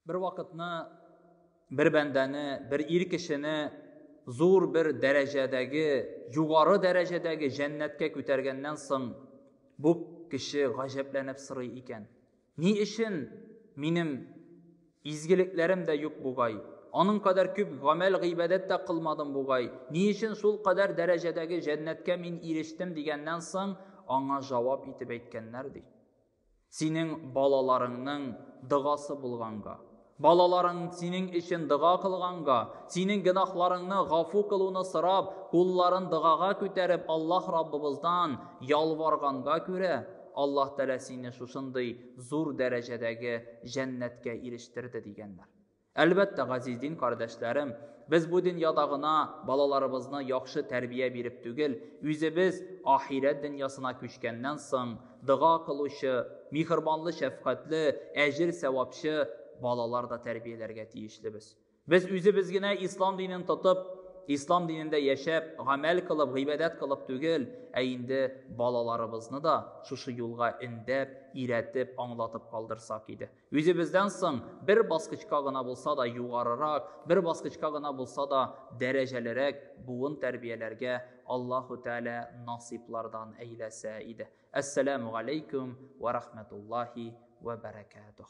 bir вакытны бер бәндәне бер ир кешене зур бер дәрәҗәдәге югары дәрәҗәдәге җәннәткә күтәргәннән соң бу кеше гаҗәпләнеп сорый икән Ни өчен минем изгелекләрем дә юк бугай? Аның кадәр күп гамәл-гыйбадәт тә кылмадым бугай. Ни өчен шул кадәр дәрәҗәдәге җәннәткә мин ирештем дигәннән соң, аңа җавап итеп әйткәннәр, ди. Синең балаларыңның догасы булганга. Балаларың синең өчен дога кылганга, синең гөнаһларыңны гафу кылуны сорап, кулларын догага күтәреп Аллаһ Раббыбыздан ялварганга күрә, Аллаһ Тәгалә сине шушындый зур дәрәҗәдәге җәннәткә ирештерде, дигәннәр. Әлбәттә, газиз дин кардәшләрем, без бу дөньяда гына балаларыбызны яхшы тәрбия биреп түгел, үзебез ахирәт дөньясына күчкәннән соң, Дога кылучы, михырбанлы, шәфкатьле, әҗер сәвапчы балалар да тәрбияләргә тиешлебез. Без үзебез генә ислам динен тотып, ислам динендә яшәп, гамәл кылып, гыйбадәт кылып түгел, ә инде балаларыбызны да шушы юлга өндәп, иретеп, аңлатып калдырсак иде. Үзебездән соң бер баскычка гына булса да югарырак, бер баскычка гына булса да дәрәҗәлерәк буын тәрбияләргә Аллаһу Тәгалә насыйплардан әйләсә иде. Әссәламү галәйкүм вә рахмәтуллаһи вә бәрәкәтүһ.